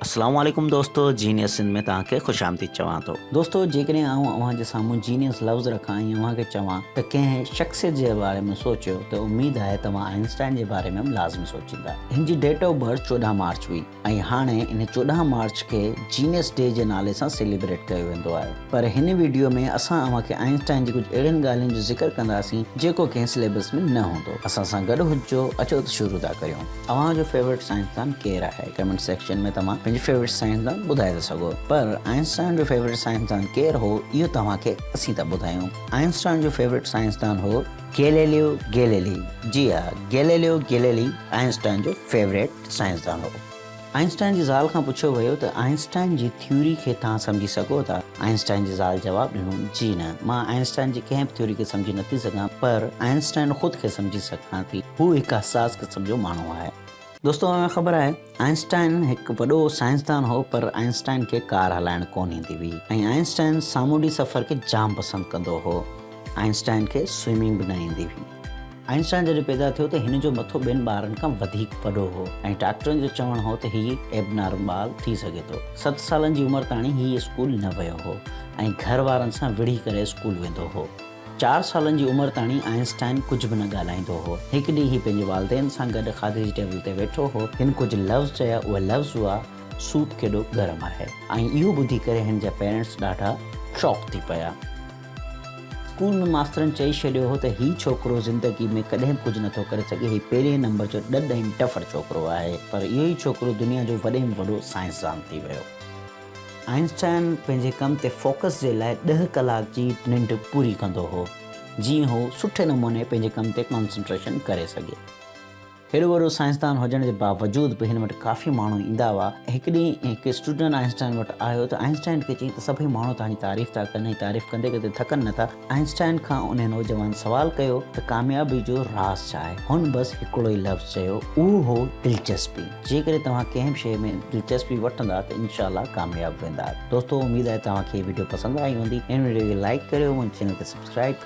اسلام عليڪم دوستو جينيس سنڌ ۾ توهان کي خوش آمديد چوان ٿو دوستو جيڪڏهن آئون اوهان جي سامهون جينيس لفظ رکان ۽ اوهان کي چوان ته ڪنهن شخصيت جي باري ۾ سوچيو ته اميد آهي توهان آئنسٽائن جي باري ۾ به لازمي سوچيندا هن جي ڊيٽ آف برٿ چوڏهن مارچ هئي ۽ هاڻي ان چوڏهن مارچ کي جينيس ڊي جي نالي سان سيليبريٽ ڪيو ويندو آهي پر هن ويڊيو ۾ اسان اوهان کي آئنسٽائن جي ڪجهه اهڙين ڳالهين جو ذڪر ڪنداسين جيڪو ڪنهن سليبس ۾ نه هوندو اسان سان گڏ هججو اچو ته شروع ٿا ڪريون. اوهان جو فيورٽ سائنسدان ڪير آهي؟ ڪمينٽ سيڪشن ۾ توهان پنهنجي فيورٽ سائنسدان ٻڌائي ٿا سگهو پر آئنسٽائن جو فيورٽ سائنسدان ڪير هو اهو توهان کي اسين ٿا ٻڌايون آئنسٽائن جو فيورٽ سائنسدان هو گيليليو گيليلي جي ها گيليليو گيليلي آئنسٽائن جو فيورٽ سائنسدان هو آئنسٽائن جي زال کان پڇيو ويو ته آئنسٽائن جي ٿيوري کي توهان سمجهي سگهو ٿا؟ آئنسٽائن جي زال جواب ڏنو، جي نه، مان آئنسٽائن جي ڪنهن به ٿيوري کي سمجهي نه ٿي سگهان، پر آئنسٽائن خود کي سمجهي سگهان ٿي. هو هڪ حساس قسم جو ماڻهو آهي. دوستو اوهان کي خبر آهي، آئنسٽائن هڪ وڏو سائنسدان هو، پر آئنسٽائن کي ڪار هلائڻ ڪونه ايندي هئي ۽ آئنسٽائن سامونڊي سفر کي جام پسند ڪندو هو. آئنسٽائن کي سوئمنگ به نه ايندي هئي. آئنسٽائن جڏهن پيدا ٿيو ته هن جو مٿو ٻين ٻارن کان وڌيڪ وڏو هو ۽ ڊاڪٽرن جو چوڻ هو ته هي ايبنارمال ٿي سگهي ٿو. ست سالن جي عمر تاڻي هي اسڪول نه ويو هو ۽ گهر وارن سان وڙهي ڪري اسڪول ويندو هو. چار سالن جي عمر تاڻي آئنسٽائن ڪجهه به نه ڳالهائيندو هو. هڪ ڏينهن هي پنهنجي والدين سان گڏ کاڌي جي ٽيبل تي ويٺو هو. هن ڪجهه لفظ چيا، اهي لفظ هئا، سوپ ڪيڏو گرم آهي ۽ اهو ٻڌي ڪري هن جا پيرنٽس ڏاڍا شاڪ ٿي پيا. اسڪول ۾ ماسترن چئي ڇڏيو هو ته هي ڇوڪرو زندگي ۾ ڪڏهن به ڪجهه نه ٿو ڪري سگهي، هي پهرين نمبر جو ڏڏ ۽ ڊڦر ڇوڪرو آهي. پر اهو ئي ڇوڪرو دنيا جو وڏي ۾ وڏو سائنسدان ٿي ويو. آئنسٽائن پنهنجي ڪم تي فوڪس جي لاء ڏهه ڪلاڪ جي ننڊ پوري ڪندو هو، جيئن هو سٺي نموني پنهنجي ڪم تي ڪانسنٽريشن ڪري سگهي. هيڏو وڏو سائنسدان هجڻ جي باوجود به هن وٽ ڪافي ماڻهو ايندا هئا. هڪ ڏينهن هڪ اسٽوڊنٽ آئنسٽائن وٽ آيو ته آئنسٽائن کي چيائين ته سڀئي ماڻهو توهان جي تعريف ٿا ڪن ۽ تعريف ڪندي ڪندي ٿڪن نه ٿا. آئنسٽائن کان انهيء نوجوان سوال ڪيو ته ڪاميابي جو راز ڇا آهي؟ هن بس هڪڙو ئي لفظ چيو، اهو هو دلچسپي. جيڪڏهن توهان ڪنهن به شيء ۾ دلچسپي وٺندا ته انشاء الله ڪامياب ويندا. دوستو اميد آهي توهان کي هي وڊيو پسند آئي هوندي. هن وڊيو کي لائيڪ ڪريو، منهنجي چينل کي سبسڪرائيب ڪريو.